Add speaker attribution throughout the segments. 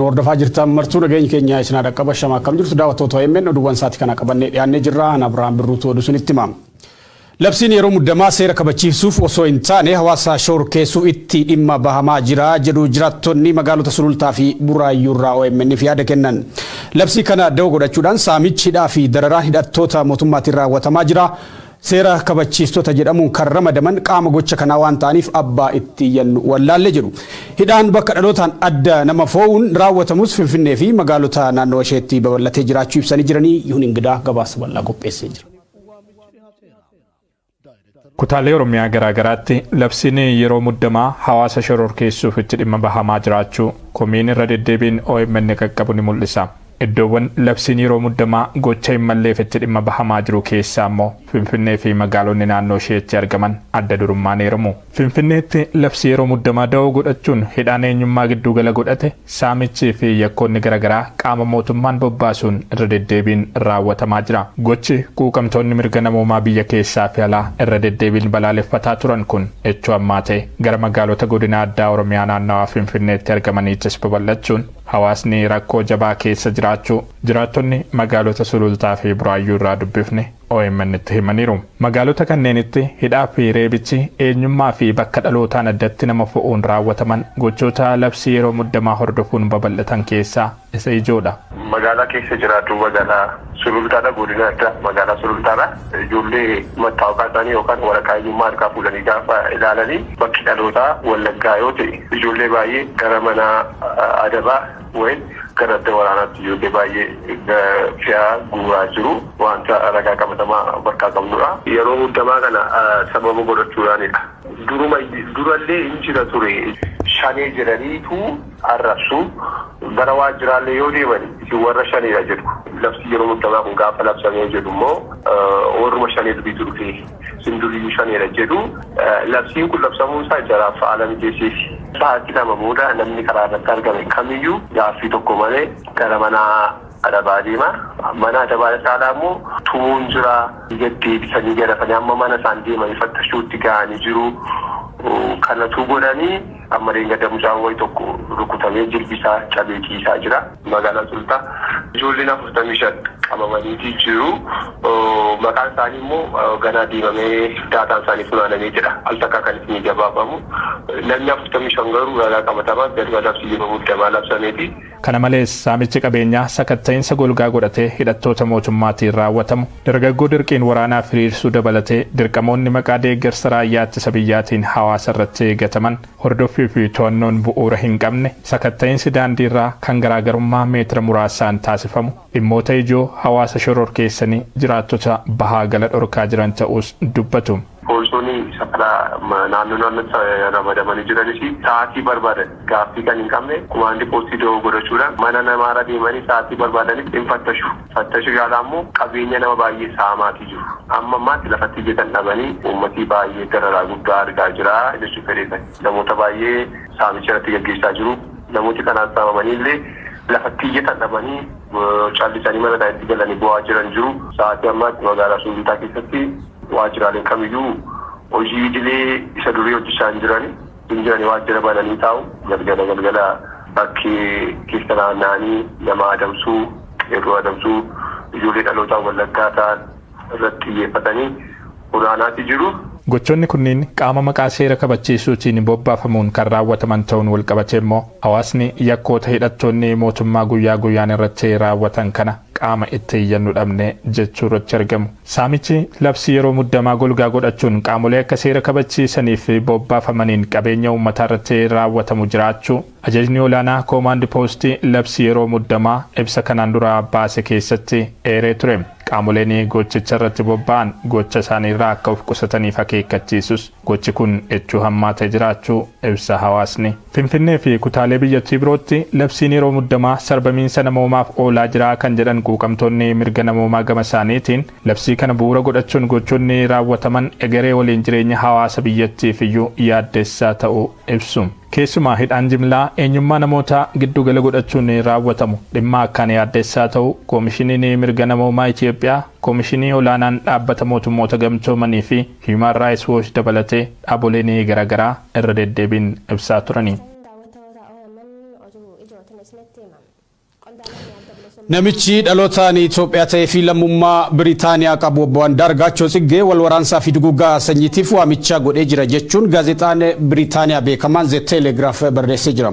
Speaker 1: Nu hordofaa jirtan martuu nageenyi keenya isin haa dhaqqabu ashama akkam jirtu daawwattoota OMN oduuwwan isaati kana qabannee dhiyaannee jirra an Abrahaam Birruutu oduu isinitti hima. Labsiin yeroo muddamaa seera kabachiisuuf osoo hin taane hawaasa shororkeessuuf itti dhimma bahamaa jira jedhu jiraattonni magaalota Sulultaa fi Buraayyuu irraa OMN'f yaada kennan. Labsii kana da'oo godhachuudhaan saamichi hidhaa fi dararaan hidhattoota mootummaatiin raawwatamaa jira. Seera kabachiistota jedhamuun kan ramadaman qaama gocha kanaa waan ta'aniif abbaa itti iyyannu wallaalle jedhu. Hidhaan bakka dhalootaan adda nama foo'uun raawwatamus Finfinnee fi magaalota naannawa isheetti babal'atee jiraachuu ibsanii jiranii Yihun Ingidaa gabaasa bal'aa qopheessee jira.
Speaker 2: Kutaalee Oromiyaa garaa garaatti labsiin yeroo muddamaa hawaasa shororkeessuuf itti dhimma bahamaa jiraachuu komiin irra deddeebiin omn qaqqabu ni mul'isa. Iddoowwan labsiin yeroo muddamaa gocha hin malleef itti dhimma bahamaa jiru keessaa immoo Finfinnee fi magaalonni naannoo ishee itti argaman adda durummaan eeramu. Finfinneetti labsii yeroo muddamaa da'oo godhachuun hidhaan eenyummaa gidduu gala godhate, saamichii fi yakkoonni gara garaa qaama mootummaan bobbaasuun irra deddeebiin raawwatamaa jira. Gochi quuqamtoonni mirga namoomaa biyya keessaa fi alaa irra deddeebiin balaaleffataa turan kun echoo ammaatee gara magaalota godina addaa Oromiyaa naannawaa Finfinneetti argamaniittis babal'achuun, Hawaasni rakkoo jabaa keessa jiraachuu jiraattonni magaalota Sulultaa fi Buraayyuu irraa dubbifne OMNtti himaniiru. Magaalota kanneenitti hidhaa fi reebichi eenyummaa fi bakka dhalootaan addatti nama fo'uun raawwataman gochoota labsii yeroo muddamaa hordofuun babal'atan keessaa isa ijoodha. Magaalaa keessa
Speaker 3: jiraadhu magaalaa. Sulultaadha Godina Addaa Magaalaa Sulultaadha. Ijoollee mattaawqaa isaanii yookaan waraqaa eenyummaa harkaa fuudhanii gaafa ilaalanii bakki dhalootaa Wallaggaa yoo ta'e ijoollee baay'ee gara mana adabaa wayin gara adda waraanaatti ijoollee baay'ee fe'aa guuraa jiru waanta ragaa qabatamaa of harkaa qabnudha. Yeroo muddamaa kana sababa godhachuudhaanidha. Duruma durallee hin jira ture. Shanee jedhaniitu. arrabsu. Gara waajjiraallee yoo deeman isin warra shaneedha jedhu. Labsii yeroo muuddamaa kun gaafa labsamee jedhu immoo warruma shanee duriitu dhufee isin duriiyyuu shaneedha jedhu. Labsiin kun labsamuun isaa jaraaf haala mijeesseefi. Sa'aatii lama booda namni karaa irratti argame kamiyyuu gaaffii tokko malee gara mana adabaa deema. Mana adabaa caalaa immoo tumuun jira. Gad deebisanii garafanii amma mana isaan deemanii fattashuutti gahanii jiru. Kanatuu godhanii. Amma dheengadda mucaan wayi tokko rukutamee jilbi isaa cabee ciisaa jira. Magaalaa Sulultaa ijoolleen 45 qabamaniiti jiru. Maqaan isaanii immoo ganaa deemamee daataan isaanii funaanamee jedha al takkaa kan isinii gabaafamu. Namni 45 garuu ragaa qabatamaan gaduma labsii yeroo muddamaa labsameeti. Kana malees,
Speaker 2: saamichi qabeenyaa sakatta'insa golgaa godhatee hidhattoota mootummaatiin raawwatamu, dargaggoo dirqiin waraanaaf hiriirsuu dabalatee dirqamoonni maqaa deeggarsa raayyaa ittisa biyyaatiin hawaasa irratti eegataman hordoffii fi to'annoon bu'uura hin qabne, sakatta'insi daandii irraa kan garaagarummaa meetira muraasaan taasifamu dhimmoota ijoo hawaasa shororkeessanii jiraattota bahaa gala dhorkaa jiran ta'uus dubbatu. Poolisoonni
Speaker 3: safarraa naannoo naannootti ramadamanii jiranis sa'aatii barbaadan gaaffii kan hin qabne kumaandii poostii dawoo godhachuudhaan mana namaarra deemanii sa'aatii barbaadanitti in fattashu. Fattashii ala ammoo qabeenya nama baay'ee saamaatii jiru. Amma ammaatti lafatti ijjatan dhabanii uummatii baay'ee dararaa guddaa argaa jira jechuun fedheesan. Namoota baay'ee saamicha irratti gaggeessaa jiru. Namooti kanaan saamamanii illee lafatti ijjatan dhabanii callisanii mana isaaniitti galanii boo'aa jiran jiru. Sa'aatii ammaatti magaalaa Suunduutaa keessatti Waajjiraaleen kamiyyuu hojii idilee isa durii hojjechaa hin jiran. Hin jirani waajjira bananii taa'u. Galgala galgala bakki keessa naanna'anii nama adamsuu, qeerroo adamsuu, ijoollee dhalootaan Wallaggaa ta'an irratti xiyyeeffatanii funaanaati jiru. Gochoonni kunniin
Speaker 2: qaama maqaa seera kabachiisuutiin bobbaafamuun kan raawwataman ta'uun walqabatee immoo hawaasni yakkoota hidhattoonni mootummaa guyyaa guyyaan irratti raawwatan kana qaama itti iyyannu dhabne jechuu irratti argamu. Saamichi labsii yeroo muddamaa golgaa godhachuun qaamolee akka seera kabachiisanii fi bobbaafamaniin qabeenya uummataa irratti raawwatamu jiraachuu Ajajni Olaanaa Koomaandi Poostii Labsii Yeroo Muddamaa ibsa kanaan dura baase keessatti eeree ture. Qaamoleen gochicha irratti bobba'an gocha isaanii irraa akka of qusataniif akeekkachiisus. Gochi kun echuu hammaatee jiraachuu ibsa hawaasni. Finfinnee fi kutaalee biyyattii birootti labsiin yeroo muddamaa sarbamiinsa namoomaaf oolaa jira kan jedhan quuqamtoonni mirga namoomaa gama isaaniitiin, labsii kana bu'uura godhachuun gochoonni raawwataman egeree waliin jireenya hawaasa biyyattiif iyyuu yaaddessaa ta'uu ibsu. Keessumaa hidhaan jimlaa eenyummaa namootaa giddu gala godhachuun raawwatamu dhimma akkaan yaaddessaa ta'uu Komishiniin Mirga Namoomaa Itiyoophiyaa, Komishinii Olaanaan Dhaabbata Mootummoota Gamtoomanii fi Human Rights Watch dabalatee dhaaboleen garagaraa irra deddeebiin ibsaa turani.
Speaker 1: Namichi dhalotaan Itoophiyaa ta'ee fi lammummaa Biritaaniyaa qabu Obbo Andaargaachoo Tsiggee wal waraansaa fi duguuggaa sanyiitiif waamicha godhee jira jechuun gaazexaan Biritaaniyaa beekamaan The Telegraph barreessee jira.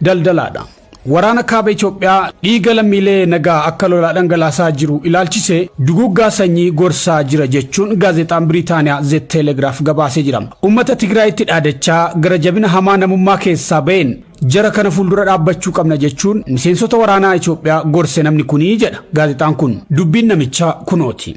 Speaker 1: Daldalaadha. Waraana Kaaba Itoophiyaa dhiiga lammiilee nagaa akka lolaa dhangalaasaa jiru ilaalchisee duguuggaa sanyii gorsaa jira jechuun gaazexaan Biriitaaniyaa Ze Teelegraaf gabaasee jira. Uummata Tigraayitti dhaadachaa gara jabina hamaa namummaa keessaa ba'een jara kana fuuldura dhaabbachuu qabna jechuun miseensota waraanaa Itoophiyaa gorse namni kuni jedha gaazexaan kun. Dubbiin namichaa kunooti.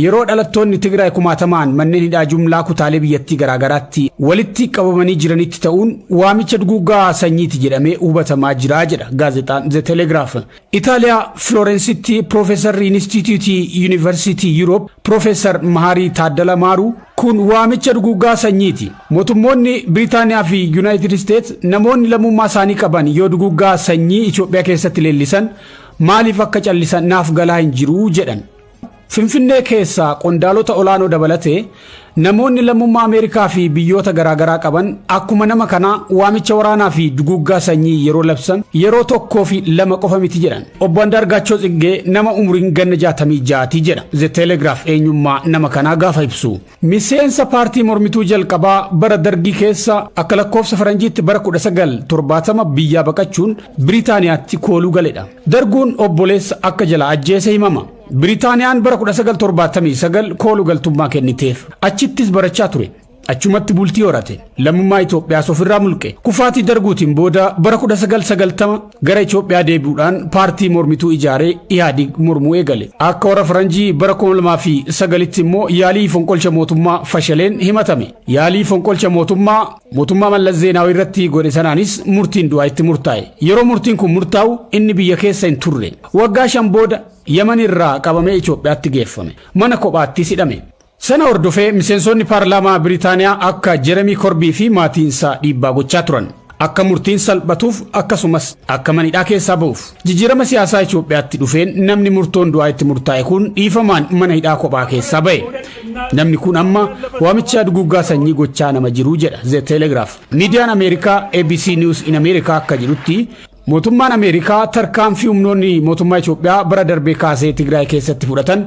Speaker 1: Yeroo dhalattoonni Tigraay kumaatamaan manneen hidhaa jumlaa kutaalee biyyattii garaagaraatti walitti qabamanii jiranitti ta'uun waamicha duguuggaa sanyiiti jedhamee hubatamaa jira jedha gaazexaan The Telegraph. Itaaliyaa Filoorensitti Piroofeesarri Inistiitiyuutii Yuunivarsiitii Yuuroop Piroofeesar Mahaarii Taaddala Maaruu kun waamicha duguuggaa sanyiiti. Mootummoonni Biriitaaniyaa fi Yuunaayitid Isteets namoonni lammummaa isaanii qaban yoo duguuggaa sanyii Itoophiyaa keessatti leellisan maaliif akka callisan naaf galaa hin jiru jedhan. Finfinnee keessaa qondaalota olaanoo dabalatee namoonni lammummaa Ameerikaa fi biyyoota garaagaraa qaban akkuma nama kanaa waamicha waraanaa fi duguuggaa sanyii yeroo labsan yeroo tokkoo fi lama qofa miti jedhan. Obbo Andaargaachoo Tsiggee nama umuriin ganna 66 ti jedha. The Telegraph eenyummaa nama kanaa gaafa ibsu. Miseensa paartii mormituu jalqabaa bara Dargii keessa akka lakkoofsa Faranjiitti bara 1970 biyyaa baqachuun Biriitaaniyaatti kooluu galedha. Darguun obboleessa akka jalaa ajjeese himama. Biriitaaniyaan bara 1979 koolu galtummaa kenniteef. Achittis barachaa ture. Achumatti bultii horate. Lammummaa Itoophiyaas ofirraa mulqe. Kufaatii Darguutiin booda bara 1990 Gara Itoophiyaa deebi'uudhaan paartii mormituu ijaaree Ihaadig mormuu eegale. Akka warra Faranjii bara 2009tti immoo yaalii fonqolcha mootummaa fashaleen himatame. Yaalii fonqolcha mootummaa mootummaa Mallas Zeenaawii irratti godhe sanaanis murtiin du'aa itti murtaa'e. Yeroo murtiin kun murtaa'u inni biyya keessa hin turre. Waggaa shan booda Yaman irraa qabamee Itoophiyaatti geeffame. Mana kophaattis hidhame. Sana hordofee miseensoonni paarlaamaa Biritaaniyaa akka Jeremii Korbii fi maatiinsaa dhiibbaa gochaa turan. Akka murtiin salphatuuf akkasumas akka manidhaa keessaa ba'uuf. Jijjiirama siyaasaa Itoophiyaatti dhufeen namni murtoon du'aa itti murtaa'e kun dhiifamaan mana hidhaa kophaa keessaa ba'e. Namni kun amma waamichaa duguuggaa sanyii gochaa nama jiruu jedha The Telegraph. Miidiyaan Ameerikaa ABC News in America akka jedhutti mootummaan Ameerikaa tarkaanfii humnoonni mootummaa Itoophiyaa bara darbee kaasee Tigraay keessatti fudhatan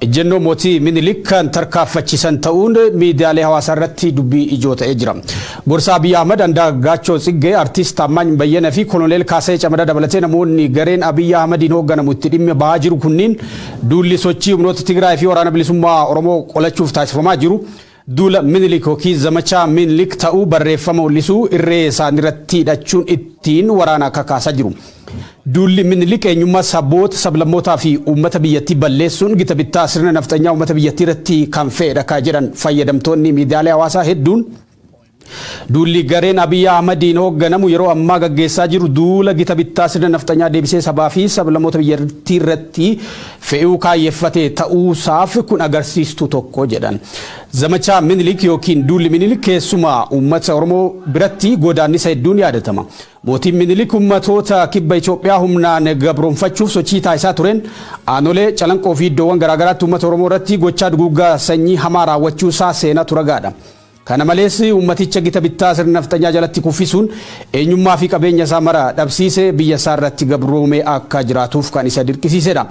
Speaker 1: Ejjennoo Mootii Minilik kan tarkaaffachiisan ta'uun miidiyaalee hawaasaa irratti dubbii ijoo ta'ee jira. Gorsaa Abiy Ahmad Andaagaachoo Tsiggee, Artiist Taammaany Bayyana fi Koloneel Kaasayee Camadaa dabalatee namoonni gareen Abiy Ahmadiin hoogganamu itti dhimma bahaa jiru kunniin duulli sochii humnoota Tigraay fi Waraana Bilisummaa Oromoo qolachuuf taasifamaa jiru Duula Minilik ykn Zamachaa Minlik ta'uu barreeffama mul'isuu irree isaaniirratti hidhachuun ittiin waraana kakaasaa jiru. Duulli Minilik eenyummaa saboota, sablammootaa fi uummata biyyattii balleessuun gita bittaa sirna nafxanyaa uummata biyyattiirratti kan fe'edha kan jedhan fayyadamtoonni miidiyaalee hawaasaa hedduun, Duulli gareen Abiy Ahmadiin hoogganamu yeroo ammaa gaggeessaa jiru duula gita bittaa sirna nafxanyaa deebisee sabaa fi sablammoota biyyattii irratti fe'uu kaayyeffate ta'uusaaf kun agarsiistuu tokko jedhan. Zamachaa Minilik yookiin duulli Minilik keessumaa uummata Oromoo biratti godaannisa hedduun yaadatama. Mootiin Minilik uummatoota kibba Itoophiyaa humnaan gabroomfachuuf sochii taasisaa tureen aanolee Calanqoo fi iddoowwan garaagaraatti uummata Oromoo irratti gochaa duguuggaa sanyii hamaa raawwachuusaa seenatu ragaadha. Kana malees uummaticha gita bittaa sirna nafxanyaa jalatti kuffisuun eenyummaa fi qabeenya isaa mara dhabsiise biyya isaa irratti gabroomee akka jiraatuuf kan isa dirqisiisedha.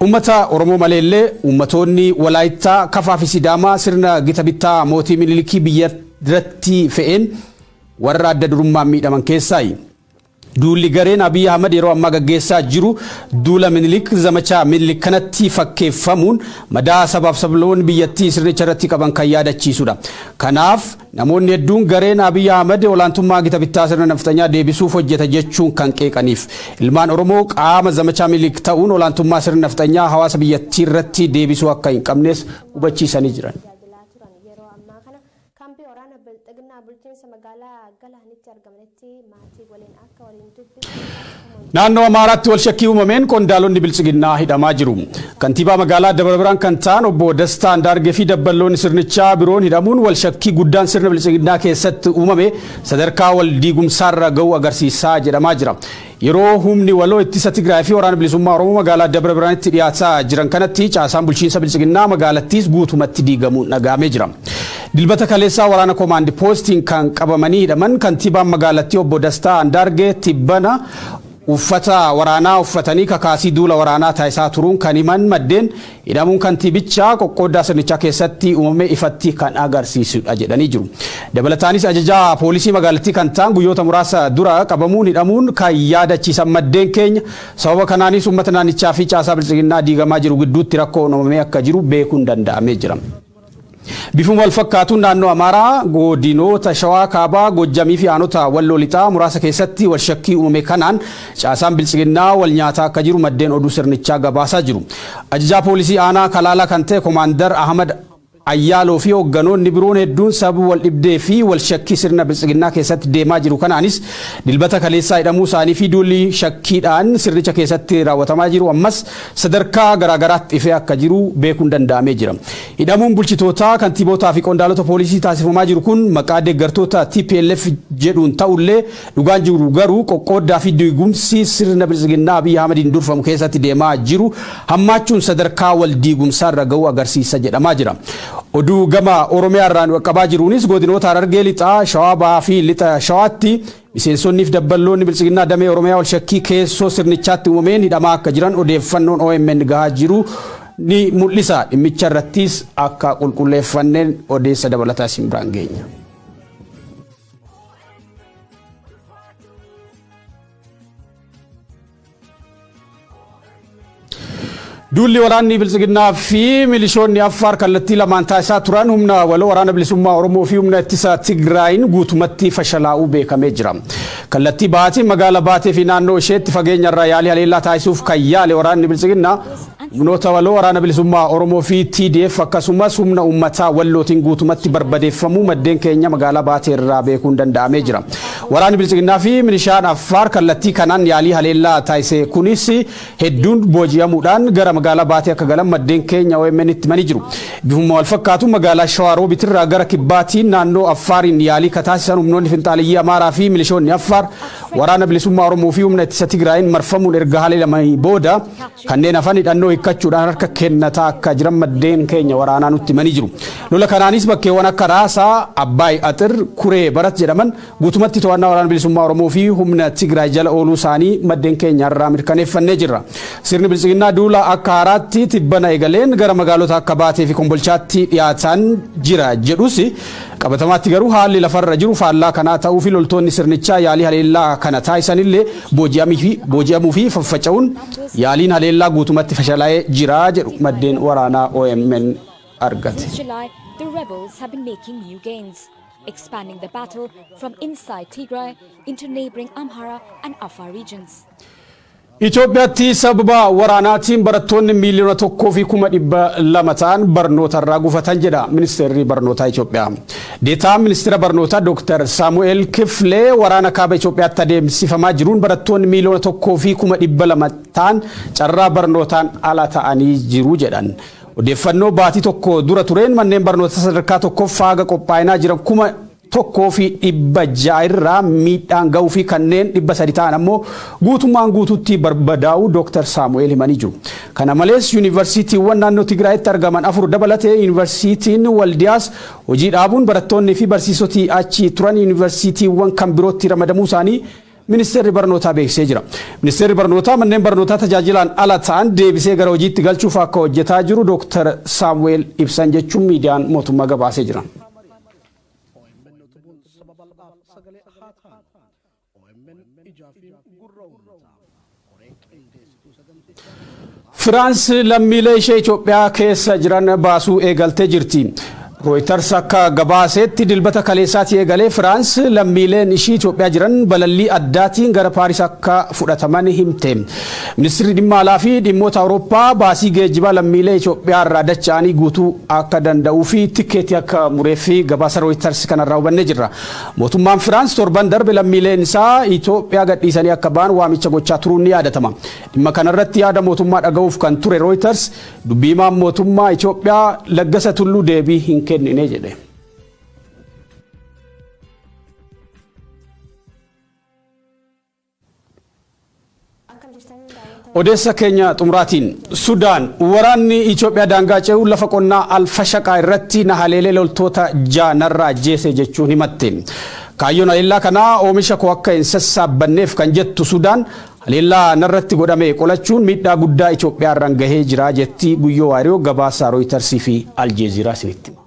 Speaker 1: Uummata Oromoo malee illee uummatoonni Walaayittaa, Kafaa fi Sidaamaa sirna gita bittaa mootii Minilikii biyya irratti fe'een warra adda durummaan miidhaman keessaayi. Duulli gareen Abiy Ahmad yeroo ammaa gaggeessaa jiru duula Minilik, zamachaa Minilik kanatti fakkeeffamuun madaa sabaaf sablammoonni biyyattii sirnicha irratti qaban kan yaadachiisudha. Kanaaf, namoonni hedduun gareen Abiy Ahmad olaantummaa gita bittaa sirna nafxanyaa deebisuuf hojjeta jechuun kan qeeqaniif. Ilmaan Oromoo qaama zamachaa Minilik ta'uun olaantummaa sirni nafxanyaa hawaasa biyyattiirratti deebisuu akka hin qabnes hubachiisanii jiran. Kaambii waraana Bilxiginnaa bulchiinsa magaalaa Galaanitti argamanitti maatii waliin akka waliin dubbisnu taasifamuun Naannoo Amaaraatti walshakkii uumameen qondaalonni Biltsiginnaa hidhamaa jiru. Kantiibaa magaalaa Dabra Birhaan kan ta'an obbo Dastaa Andaargee fi dabballoonni sirnichaa biroon hidhamuun walshakkii guddaan sirna Biltsiginnaa keessatti uumame sadarkaa wal diigumsaarra ga'uu agarsiisaa jedhamaa jira. Yeroo Humni Waloo Ittisa Tigraay fi Waraana Bilisummaa Oromoo magaalaa Dabra Birhaanitti dhiyaataa jiran kanatti caasaan bulchiinsa Biltsiginnaa magaalattiis guutumatti diigamuun dhaga'amee jira. Dilbata kaleessaa waraana Komaandi Poostiin kan qabamanii hidhaman kantiibaan magaalattii obbo Dastaa Andaargee tibbana uffata waraanaa uffatanii kakaasii duula waraanaa taasisaa turuun kan himan maddeen, Hidhamuun kantiibichaa qoqqooddaa sirnichaa keessatti uumame ifatti kan agarsiisudha jedhanii jiru. Dabalataanis ajajaa poolisii magaalattii kan ta'an guyyoota muraasa dura qabamuun hidhamuun kan yaadachiisan maddeen keenya sababa kanaanis uummata naannichaa fi caasaa biltsiginnaa diigamaa jiru gidduutti rakkoon uumamee akka jiru beekuun danda'amee jira. Bifuma walfakkaatuun naannoo Amaaraa godinoota Shawaa Kaabaa, Goojjamii fi aanota Walloo Lixaa muraasa keessatti walshakkii uumame kanaan caasaan Biltsiginnaa walnyaataa akka jiru maddeen oduu sirnichaa gabaasaa jiru. Ajajaa poolisii aanaa Kalaalaa kan ta'e Komaandar Ahmad Ayyaaloo fi hoogganoonni biroon hedduun sababa waldhibdee fi walshakkii sirna Biltsiginnaa keessatti deemaa jiru kanaanis Dilbata kaleessaa hidhamuu isaanii fi duulli shakkiidhaan sirnicha keessatti raawwatamaa jiru ammas sadarkaa garaagaraatti ifee akka jiru beekuun danda'amee jira. Hidhamuun bulchitootaa, kantiibootaa fi qondaalota poolisii taasifamaa jiru kun maqaa deeggartoota tplf jedhuun ta'ullee dhugaan jiru garuu qoqqooddaa fi diigumsi sirna Biltsiginnaa Abiy Ahmadiin durfamu keessatti deemaa jiru hammaachuun sadarkaa wal diigumsaarra ga'uu agarsiisa jedhamaa jira. Oduu gama Oromiyaarraa nu qaqqabaa jiruunis godinoota Harargee Lixaa, Shawaa Bahaa fi Lixa Shawaatti Miseensonnii fi dabballoonni Biltsiginnaa damee Oromiyaa wal shakkii keessoo sirnichaatti uumameen hidhamaa akka jiran odeeffannoon omn gahaa jiru ni mul'isa. Dhimmicha irrattis akka qulqulleeffanneen odeessa dabalataa isin biraan geenya. Duulli waraanni Biltsiginnaa fi milishoonni Affaar kallattii lamaan taasisaa turan humna waloo waraana bilisummaa Oromoo fi humna ittisa Tigraayin guutumatti fashalaa'uu beekamee jira. Kallattii bahaatiin magaala Baatee fi naannoo isheetti fageenyarraa yaalii haleellaa taasisuuf kan yaale waraanni Biltsiginnaa Humnoota waloo Waraana Bilisummaa Oromoo fi TDF akkasumas humna uummataa Wallootiin guutumatti barbadeeffamuu maddeen keenya magaalaa Baatee irraa beekuun danda'amee jira. Waraanni Biltsiginnaa fi Milishaan Affaar kallattii kanaan yaalii haleellaa taasise kunis hedduun booji'amuudhaan gara magaalaa Baatee akka galan maddeen keenya OMNtti himanii jiru. Bifuma walfakkaatuun magaalaa Shawaa Roobit irraa gara Kibbaatiin naannoo Affaariin yaalii ka taasisan humnoonni finxaaleyyii Amaaraa fi milishoonni Affaar Waraana Bilisummaa Oromoo fi humna ittisa Tigraayiin marfamuun erga haleelamanii booda Kanneen hafan hidhannoo hikkachuudhaan harka kennataa akka jiran maddeen keenya waraanaa nutti himanii jiru. Lola kanaanis bakkeewwan akka Raasaa, Abbaay Axir, Kuree Barat jedhaman guutumatti to'annaa Waraana Bilisummaa Oromoo fi humna Tigraay jala ooluu isaanii maddeen keenya irraa mirkaneeffannee jirra. Sirni Biltsiginnaa duula akka haaraatti tibbana eegaleen gara magaalota akka Baatee fi Kombolchaatti dhiyaataan jira jedhus qabatamaatti garuu haalli lafarra jiru faallaa kanaa ta'uu fi loltoonni sirnichaa yaalii haleellaa kana taasisanillee Booji'amuu fi faffaca'uun yaaliin haleellaa guutumatti fashalaa'ee jira jedhu maddeen waraanaa omn argate.
Speaker 4: Itoophiyaatti
Speaker 1: sababa waraanaatiin barattoonni miiliyoona tokkoo fi kuma dhibba lama ta'an barnootarraa gufatan jedha Ministeerri Barnootaa Itoophiyaa. Deetaan Ministira Barnootaa Dooktar Saamu'eel Kiflee waraana Kaaba Itoophiyaatti adeemsifamaa jiruun barattoonni miiliyoona tokkoo fi kuma dhibba lama ta'an carraa barnootaan ala ta'anii jiru jedhan. Odeeffannoo baatii tokko dura tureen manneen barnootaa sadarkaa tokkoffaa haga qophaa'inaa jiran kuma tokkoo fi dhibba ja'a irraa miidhaan ga'uu fi kanneen dhibba sadi ta'an ammoo guutummaan guutuutti barbadaa'uu Dooktar Saamu'eel himanii jiru. Kana malees yuunivarsiitiiwwan naannoo Tigraayitti argaman afur dabalatee yuunivarsiitiin Waldiyaas Hojii dhaabuun barattoonni fi barsiisoti achi turan yuunivarsiitiiwwan kan birootti ramadamuu isaanii Ministeerri Barnootaa beeksisee jira. Ministeerri Barnootaa manneen barnootaa tajaajilaan ala ta'an deebisee gara hojiitti galchuuf akka hojjetaa jiru Dooktar Saamu'eel ibsan jechuun miidiyaan mootummaa gabaasee jira. OMN ijaa fi gurra uummataa koree qindeessituu sagantichaa Firaans lammiilee ishee Itoophiyaa keessa jiran baasuu eegaltee jirti. Rooyitars akka gabaaseetti dilbata kaleessaatii eegalee Firaans lammiileen ishii Itoophiyaa jiran balallii addaatiin gara Paaris akka fudhataman himte. Ministirri dhimma alaa fi dhimmoota Awurooppaa baasii geejjibaa lammiilee Itoophiyaa irraa dacha'anii guutuu akka danda'uu fi tikkeetii akka mureef gabaasa Rooyitars kanarraa hubannee jirra. Mootummaan Firaans torban darbe lammiileen isaa Itoophiyaa gadhiisanii akka ba'an waamicha gochaa turuun ni yaadatama. Dhimma kanarratti yaada mootummaa dhaga'uuf kan ture Rooyitars dubbii himaan mootummaa Itoophiyaa Laggasa Tulluu deebii hin kennine jedhe. Odeessa keenya xumuraatiin Sudaan waraanni Itoophiyaa daangaa ce'uun lafa qonnaa Alfashaqaa irratti na haleelee loltoota ja'a narraa ajjeese jechuun himatte. Kaayyoon haleellaa kanaa oomisha koo akka hin sassaabbanneef kan jettu Sudaan haleellaa narratti godhame qolachuun miidhaa guddaa Itoophiyaa irraan gahee jira jetti Guyyoo Waariyoo gabaasa Rooyitarsi fi Aljeeziiraa isinitti hima.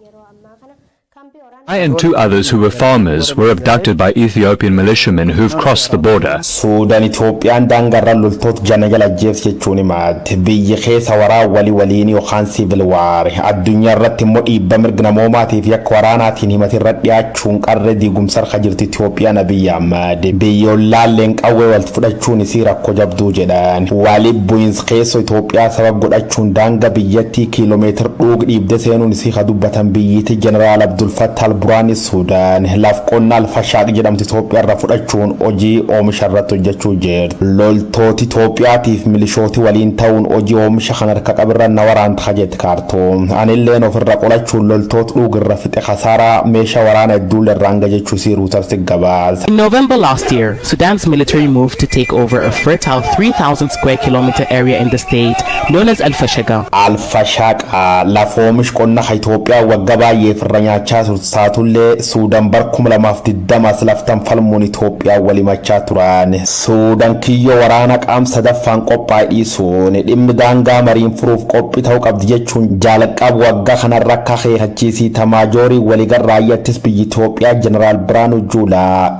Speaker 5: I and two others who were farmers were abducted by Ethiopian militiamen who've crossed the border. Suudan Itoophiyaan
Speaker 6: daangarra loltoota janagala ajjeefti jechuun himaatte. Biyyi keessa waraa wali waliini yookaan civil war. Addunyaa irratti immoo dhiibba mirg namoomaatiif yakka waraanaatiin himati irra dhiyaachuun qarree diigumsa harka jirti Itoophiyaan Abiy Ahmad. Biyyi ollaalleen qawwee walti fudhachuun isii rakko jabduu jedhan. Wali bu'insa Teesso Itoophiyaa sabab godhachuun daanga biyyattii kiilomeetir dhuug dhiibde seenuun isii ka dubbatan biyyiitii Jeneraal Abdul Fattah al-Buraani Suudaan laf qonna Al-Fashaaq jedhamtu Itoophiyaa irra fudhachuun hojii oomisha irratti hojjachuu jirt. Loltooti Itoophiyaatiif milishooti waliin ta'uun hojii oomisha kan harka qabirra na waraant ka jett Kaartuum, anilleen of irra qolachuun loltoot dhuug irra fixe kasaaraa meesha waraana hedduulle irraan gahe jechuu isii Ruutarsi gabaase. In November last
Speaker 7: year, Sudan's military move to take over a fertile 3,000 square kilometer area in the state known as Al-Fashaga. Al-Fashaga,
Speaker 6: lafa oomish qonna ka Itoophiyaa wagga baay'eef irra nyaachaa turte taatullee Suudan bar 2020 as laftan falmuun Itoophiyaa wal himachaa turan. Suudan kiyyoo waraana qaam sadaffaan qophaaye dhiisuun dhimmi daangaa mariin furuuf qophii ta'uu qabdi jechuun jalqab wagga kanarra akka akeekachiisi Itamaajoorii waligal raayyaa ittis biyyi Itoophiyaa Jeneraal Biraanuu Juulaa